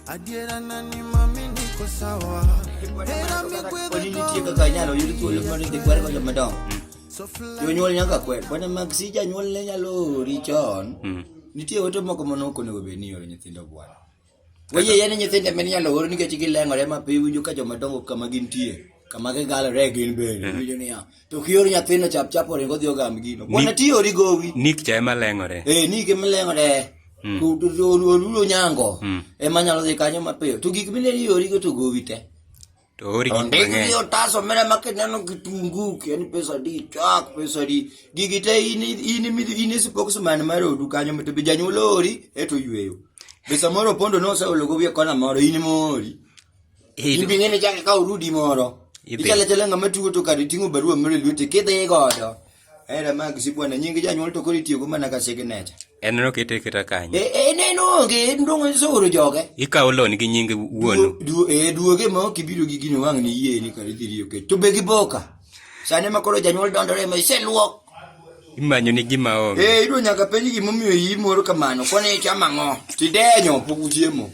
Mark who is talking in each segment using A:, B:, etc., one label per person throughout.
A: Adiera na ni mami niko sawa. Hera mi gwedho ni nitie kaka inyalo yud
B: thuolo mar dhi kwere ko joma dongo. Jonyuol nyaka kwer. Bwana mag si janyuol ne nyalo ori chon. Nitie ote moko mano ok onego bed ni ioro nyithindo bwana. Weye yeni nyithindo ema inyalo or nikech gileng'ore ma pi winjo ka joma dongo kama gintie kama gigalore gin bende mm. winjo niya to kior nyathino chap chap oringo dhi ogam gino bwana ti ori gowi nik cha ema leng'ore
C: eh nik ema leng'ore
B: mm. olulo nyango mm. ema nyalo dhi kanyo mapiyo to gik mine iorigo to gowi te To ori gik
C: mang'eny. Ondik gi otas omena ma
B: kineno kitungu, kiani pesa di, chak pesa di. Gigi te in in in e spokesman mar odu kanyo to be janyuol ori eto yweyo. Be samoro pondo no oseolo go wiye kona moro in mori. In bi ng'eni chake ka urudi moro. Ichale chale ng'ama tugo to kare ting'o barua moro e lwete kidhi godo. Era mag sibwana nying janyuol to koro itiyogo mana ka signature. En no kete keta
C: kanyo. E, e, en en onge
B: en dong' isoro joge. Ikawo loan gi nying
C: wuonu. Du, e duoge ma
B: ok ibiro gi gino wang' ni yie ni kar idhi riyo kech. To be gi boka. Sani ma koro janyuol dondore ma iseluok. Imanyo ni
C: gima onge. Eh, idwa nyaka penj gimomiyo
B: iyi moro kamano. Koni ichamo ang'o? Tidenyo pok uchiemo.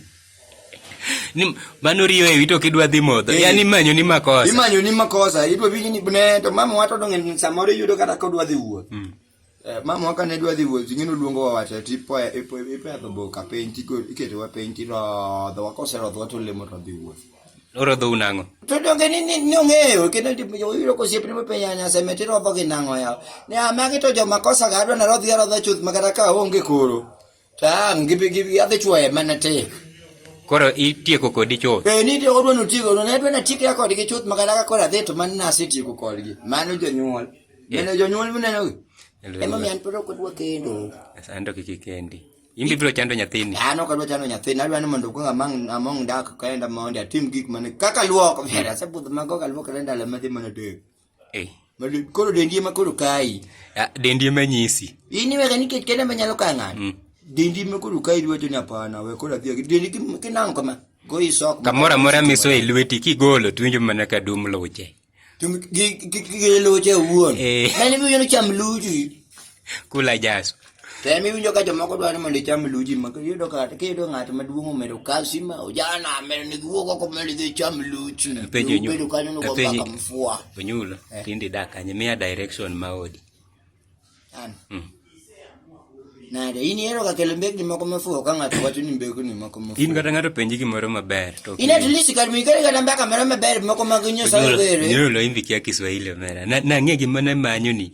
C: ni mano riyo ewi to kidwa dhi modho eh, yani manyo ni makosa imanyo ni makosa idwa winji ni ne
B: to mama wato donge samoro iyudo kata ka odwa dhi wuoth mm. eh, mama waka ne dwa dhi wuoth ing'e noluongo wa wacho ti po e, ipo e, ipedho boka piny tiko iketo wa piny ti rodho wa kose rodho wa to lemo to dhi wuoth oro dho unango
C: to donge ni ni
B: ni ong'eyo kendo ndi yo yiro ko siepni mo penya nya seme ti rodho gi nango ya ne amagi to jo makosa ga adwa na rodhi rodho chuth magara ka onge koro Tam gibi gibi adhi chwoye mana tek. Koro
C: itieko kodi chuth. Eh ni tieko dwano tieko
B: dwano ne dwano tieko ya kodgi chuth makala ka kora dhi to man nasi tieko kodgi. Mano jonyuol. Mano jonyuol mineno. Ema mi an poro kodwa kendo. Sando kiki
C: kendi. Imbi biro chando nyathini. An ok adwa chando nyathini,
B: adwa ni mondo kuong among among dak kaenda mondo atim gik mane kaka luok, vera se budh mago ka luok renda le madhi mana tek. Eh. Koro dendi ema koro kayi. Ah, dendi ema
C: nyisi. In iwega nikech
B: kende ema nyalo kayo ng'ato. Mm. Dendi ema koro kayi iwacho ni hapana we koro adhi dendi kinang'o kama. Goyi sok. Kamoro amora miso e
C: lweti kigolo to winjo mana ka dum luche.
B: Gi luche wuon. Eh. Mani bi yono cham luchi. kula
C: jaso tem iwinjo ka
B: jomoko dwa ni mondo icham luji ma kiyudo ka kiyudo ng'at maduong' omedo kasi ma ojana amedo ni giwuog oko mondo idhi icham luji penjo nyu bedo kanyo ni penjo mfua onyulo eh. tindi
C: dak kanye miya direction ma odi an mm.
B: nade in ihero ka kelo mbekni moko mafuwo ka ng'ato wacho ni mbekni moko mafuwo in kata ng'ato penji gimoro
C: maber to in at least kar mi kare
B: kata mbaka moro maber moko mag nyosa ongere nyulo imbi kia kiswahili
C: omera na ng'e gimana manyo ni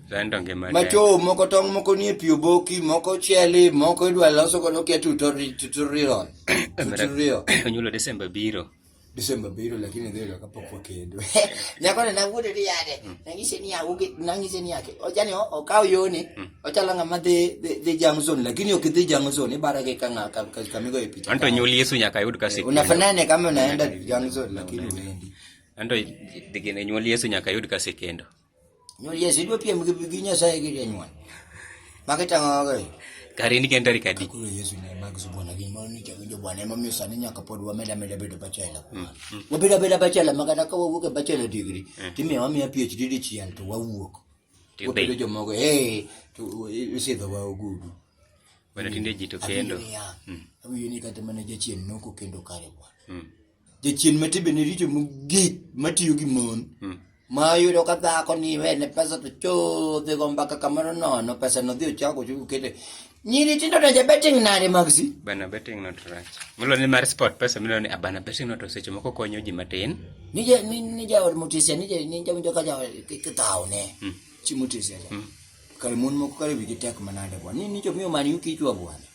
C: Macho moko tong' moko
B: nie pi oboki, moko cheli, moko idwa loso godo kia tutorial. Tutorial. Onyulo
C: Desemba biro. Desemba biro lakini dhiri kapok wakendo. Nyako ne nawuodo ni yade.
B: Mm. Nangise ni awuge, nangise ni yake. Ojani okaw yoni. Mm. Ochala ngama dhi dhi jang zone lakini ok dhi jang zone ibara ke kanga kamigo e picha. Anto nyuli Yesu nyaka yud
C: kasi. Unafanana kama unaenda
B: jang zone lakini uendi. Anto
C: digine nyuli Yesu nyaka yud kasi kendo. Nyol Yesu idwa
B: piem gi gi Nyasaye gi janyuol. Magi tang'o ga. Kare ni kenda ri
C: kadi. Kulo Yesu ne mag
B: subona gi mon ni kendo bwana ema miyo sani nyaka pod wameda meda bedo bachela. Mm, mm. Wabeda beda bachela maka da ka wawuok e bachela degree. Mm. Timiyo wamiya PhD di chiel to wawuok. Wabedo jomogo eh to isidho wa ogudu. Wana tinde
C: jito kendo. Awiyo ni
B: kata mana jachien noko kendo kare bwana. jachien ma timbene richo mogik matiyo gi mon hmm. ma yudo ka dhako ni wene pesa to chodhe go mbaka kamoro nono pesa no dhi ochako chuku kete nyiri tindo donje betting nade magsi bana betting not
C: rach milo ni mar sport pesa milo ni abana betting not seche moko konyo ji matin ni je ni ni ja
B: od mutisia ni je ni jamu joka ja kitao ne hmm. chi mutisia hmm. kare mon moko kare wigi tek manade bwa ni ni jo miyo man yuki chwa bwana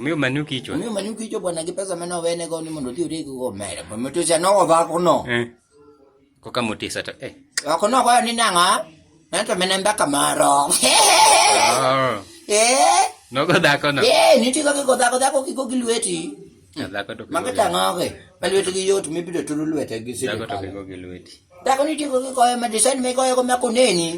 B: Miyo
C: manu kichwa. Miyo manu kichwa bwana kipesa
B: meno wene go ni mondo tiyo rego go mere. Bo mtu cha no va ko no. Eh. Ko
C: kama utisa to eh. Wa ko no kwa ni
B: nanga. Nanto mena mbaka maro. Ah. Eh.
C: No go da ko no. Eh, ni ti ko ko da ko da
B: ko ki ko gilweti. Da ko to. Maka
C: ta ngoge.
B: Balweti gi yot mi bido tulu lwete gi sidi.
C: Da ko to ko
B: gilweti. Da ko ni ti ko ko ma design me ko ko ma ko neni.